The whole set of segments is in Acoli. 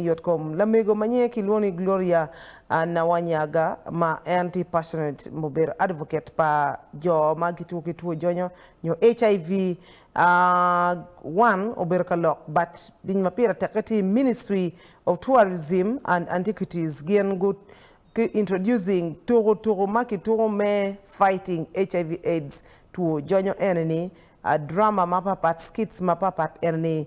i yotkom. Lamego ma nyinge kilwongo ni Gloria Nawanyaga ma en tye passionate mubedo advocate pa jo ma gitwo ki two jonyo nyo HIV one obedo ka lok but piny ma pire teke tye Ministry of Tourism and Antiquities gin gu introducing tuku tuku ma kituku me fighting HIV aids two jonyo ene ni drama ma papat skits ma papat ene ni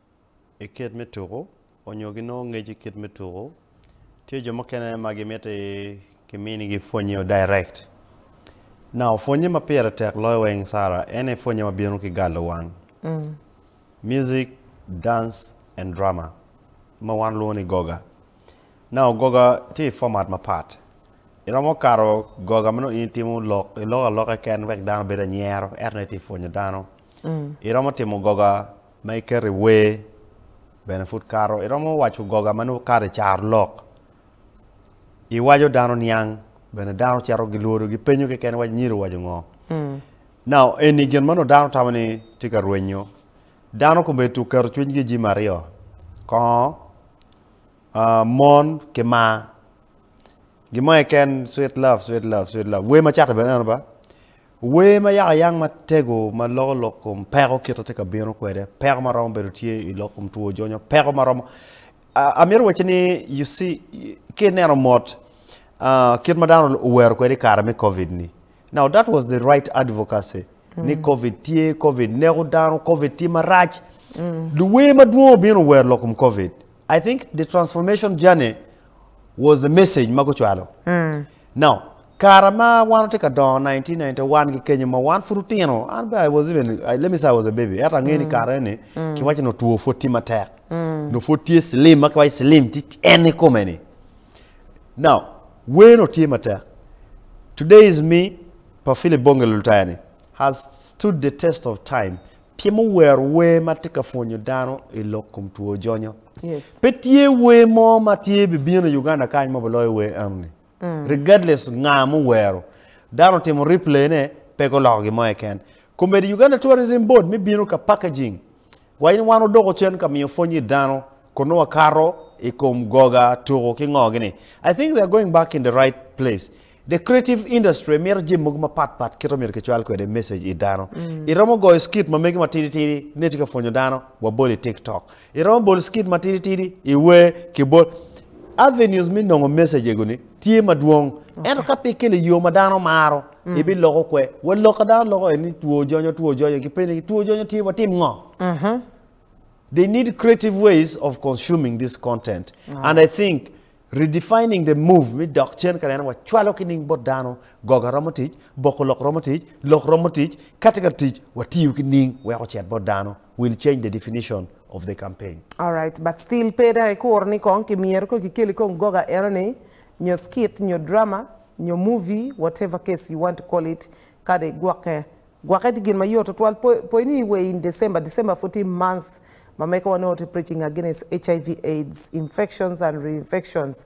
i kit me tuku onyo ginongo ngec i kit me tuku tye jo mukene ma gimiti ki mini gi pwonye o direct now pwonye ma pire tek loyo weng Sara ene pwonye ma bino ki galo wang music dance and drama ma wan lwongo ni goga now goga tye i format ma pat iromo kato goga ma nongo in itimo lok iloko aloka keken wek dano obed anyero eto nongo itye pwonyo dano iromo timo goga ma iketo i wer bene pud kato. Iromo waco goga ma nongo kato i caro lok, iwaco dano niang bene dano cito gilwodo gipenyo keken waco nyido owaco ngo. Now eni gin ma nongo dano tamo ni tye ka rwenyo. Dano komedo tuk keto cwinygi i jami aryo, kongo, aa, mon ki maa. Gin mo keken sweet love, sweet love, sweet love. Wer macate bene eno ba. Wer ma yako yang matego ma loko lok kom peko kit ma tye ka bino kwede, peko ma romo bedo tye i lok kom two jonyo, peko ma romo. Ah, amito wacci ni, you see, ka ineno mot ah, kit ma dano owero kwede i kare me Covid ni. Now that was the right advocacy. Ni Covid tye, Covid neko dano, Covid tye marac. Luwer madwong obino owero lok kom Covid. I think the transformation journey was the message ma gucwalo. No. Kara ma wan watye ka dongo 1991 ki kenyo ma wan pud otino an bene I was even I let me say I was a baby ento angeyo ni kare eni ki waco nongo two pud tye matek nongo pud tye slim ma ki waco slim tye en ni kome ni now wer nongo tye matek today is me pa Philip Bongelo Lutaya ni has stood the test of time Pi ma wowero wer ma tye ka pwonyo dano i lok kom two jonyo, pe tye wer mo ma tye bibino i Uganda kany ma biloyo wer eno-ni. Regardless nga ma owero, dano otimo replay ne, pe guloko gin mo keken. Komedi Uganda Tourism Board me bino ka packaging wa in wan odoko cen ka miyo pwony i dano kun nongo wakato i kom goga, tuku ki ngo gi ni. I think they are going back in the right place. The creative industry mito jami mogo mapat pat kit ma myero kicwal kwede message i dano. I romo goyo skit ma megi matidi tidi ne tye ka pwonyo dano wa bol i tiktok. I romo bol skit matidi tidi i wer ki bol. Avenues me nongo message ego ni tye madwong. Ento ka pe ikele yo ma dano maro i bi loko kwe. Wa loka dano loko en ni two jonyo two jonyo ki peni ki two jonyo tye wa tim ngo? They need creative ways of consuming this content and I think Redefining the Move me dok cen ka neno wa cwalo ki ning bot dano, goga romo tic, boko lok romo tic, lok romo tic, kati ka tic wa tiyo ki ning weko cet bot dano will change the definition of the campaign. Alright, but still pe dang ikuro ni kong ki myero kong ki keli kong goga eno ni, nyo skit, nyo drama, nyo movie, whatever case you want to call it, kadi gwokke. Gwokke tye gin ma yot tutwal. Poyo ni iwer in December, December pud tye month ma mege wa nongo tye preaching against HIV, aids, infections and reinfections.